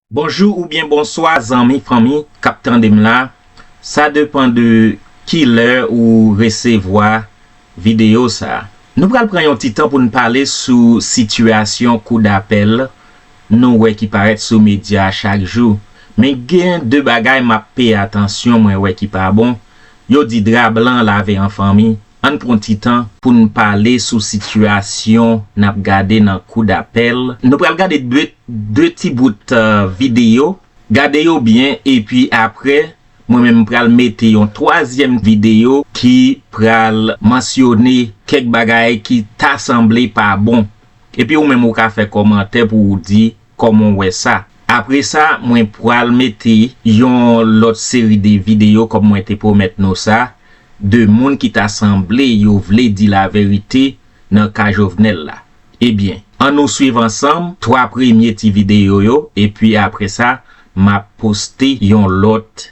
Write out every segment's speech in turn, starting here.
Bonjou oubyen bonswa zanmi fanmi kap tandem la sa depan de kilè ou resevwa video sa. Nou pral pran yon ti tan poun pale sou sitiyasyon kou dapèl nou wè ki parèt sou medya chak jou men gen de bagay map peye atansyon mwen wè ki pa bon yo di dra blan lave an fanmi. Ann pran ti tan pou n pale sou sitiyasyon n ap gade nan kou dapèl. Nou pral gade de ti bout videyo. Gade yo byen epi apre, mwen menm m pral mete yon twazyèm videyo ki pral mansyone kèk bagay ki ta sanble pa bon. Epi ou menm ou ka fè kòmantè pou ou di Koman w wè sa? Apresa mwen pral mete yon lòt seri de videyo kòm mwen te pwomèt nou sa, de moun ki ta sanble yo vle di laverite nan ka Jovenel la. Ebyen, an nou swiv ansanm 3 premye ti videyo yo epi apresa m ap poste yon lòt.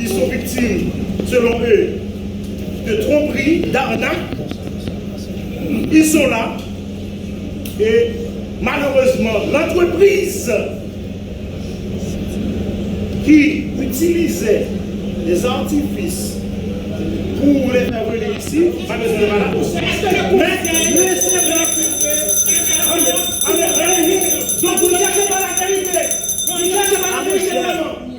Ils sont victimes selon eux de tromperie, d'arnaque, ils sont là et malheureusement l'entreprise ki utilise des artifices pou les faire venir ici pa bezwen yo pa la men lese blan yo filtre anmweyy anmweyy anmweyy donk nou chache pa la verite nou chache pa la verite vreman.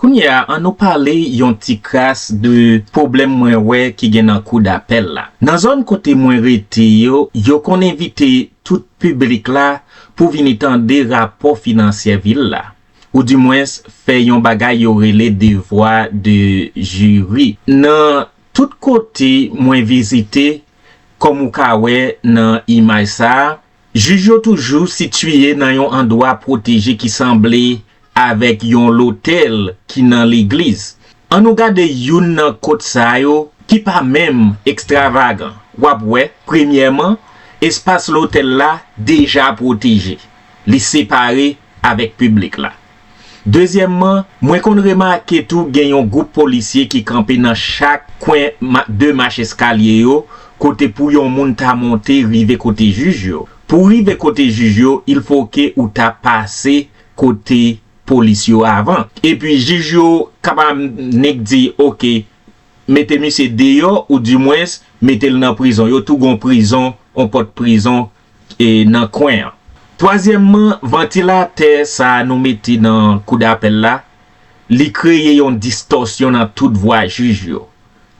Kounye a an nou pale yon ti kras de pwoblèm mwen wè ki gen nan kou dapèl la. Nan zòn kote mwen rete yo, yo konn envite tout piblik la pou vini tande rapò finansyè vil la, ou di mwens fè yon bagay yo rele devwa de jiri. Nan tout kote mwen vizite, kòm ou ka wè nan imaj sa a, Jij yo toujou sitiye nan yon andwa pwoteje ki sanble avèk yon lotèl ki nan legliz. An nou gade youn nan kot sa yo ki pa menm ekstravagan. W ap wè, premyèman, espas lotèl la deja pwoteje. Li separe avèk piblik la. Dezyèmman, mwen konn remake tou gen yon gwoup polisye ki kanpe nan chak kwen 2 mach eskalye yo kote pou yon moun ta monte rive kote jij yo. Pou w rive kote jij yo, il fo ke ou ta pase kote polis yo avan. Epi jij yo kaba nnik di ok, mete misye deyò ou dimwens mete l nan prizon. Yo tou gen yon prizon, yon pòt prizon e nan kwen an. Twazyèmman, vantilatè sa a nou mete nan kou dapèl la, li kreye yon distòsyon nan tout vwa jij yo.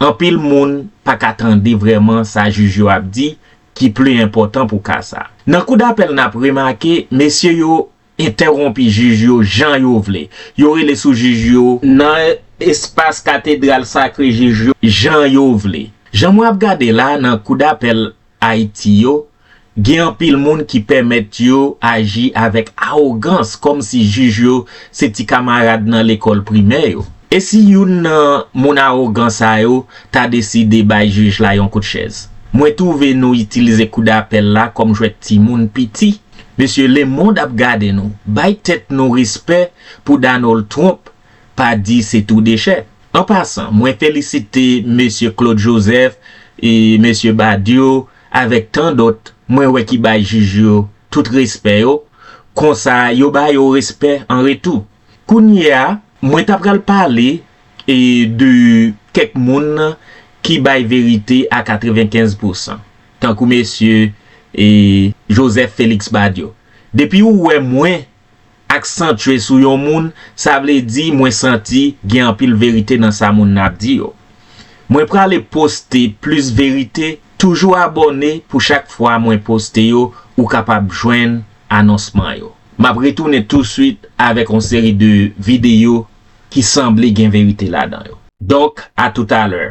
Anpil moun pa ka tande vrèman sa jij yo ap di ki pli enpòtan pou ka sa. Nan kou dapèl n ap remake mesye yo Entèwonpi jij yo jan yo vle. Yo rele sou jij yo. Nan espas katedral sakre jij yo jan yo vle. Jan mwen ap gade la nan kou dapèl Ayiti yo, gen anpil moun ki pèmèt yo aji avèk awogans kòm si jij yo se ti kamarad nan lekòl primè yo. E si youn nan moun awogan sa yo ta deside bay jij la yon kout chèz? Mwen twouve nou itilize kou dapèl la kòm jwèt timoun piti. Mesye le mond ap gade nou. Bay tèt nou respè pou Donald Trump pa di se tou dechè. An pasan, mwen felisite Mesye Claude Joseph, Mesye Badio avèk tan dòt mwen wè ki bay jij yo tout respè yo, konsa yo ba yo respè an retou. Kounye a, mwen ta pral pale de kèk moun ki bay verite a 95 pousan. tankou mesye e Joseph Felix Badio depi ou wè mwen ak santye sou yon moun sa vle di mwen santi gen anpil verite nan sa moun nan ap di yo mwen prale poste plis verite toujou abòne pou chak fwa mwen poste yo ou kapab jwenn anonsman yo map retounen touswit avèk yon seri de videyo ki sanble gen verite ladan yo donk a toutalè.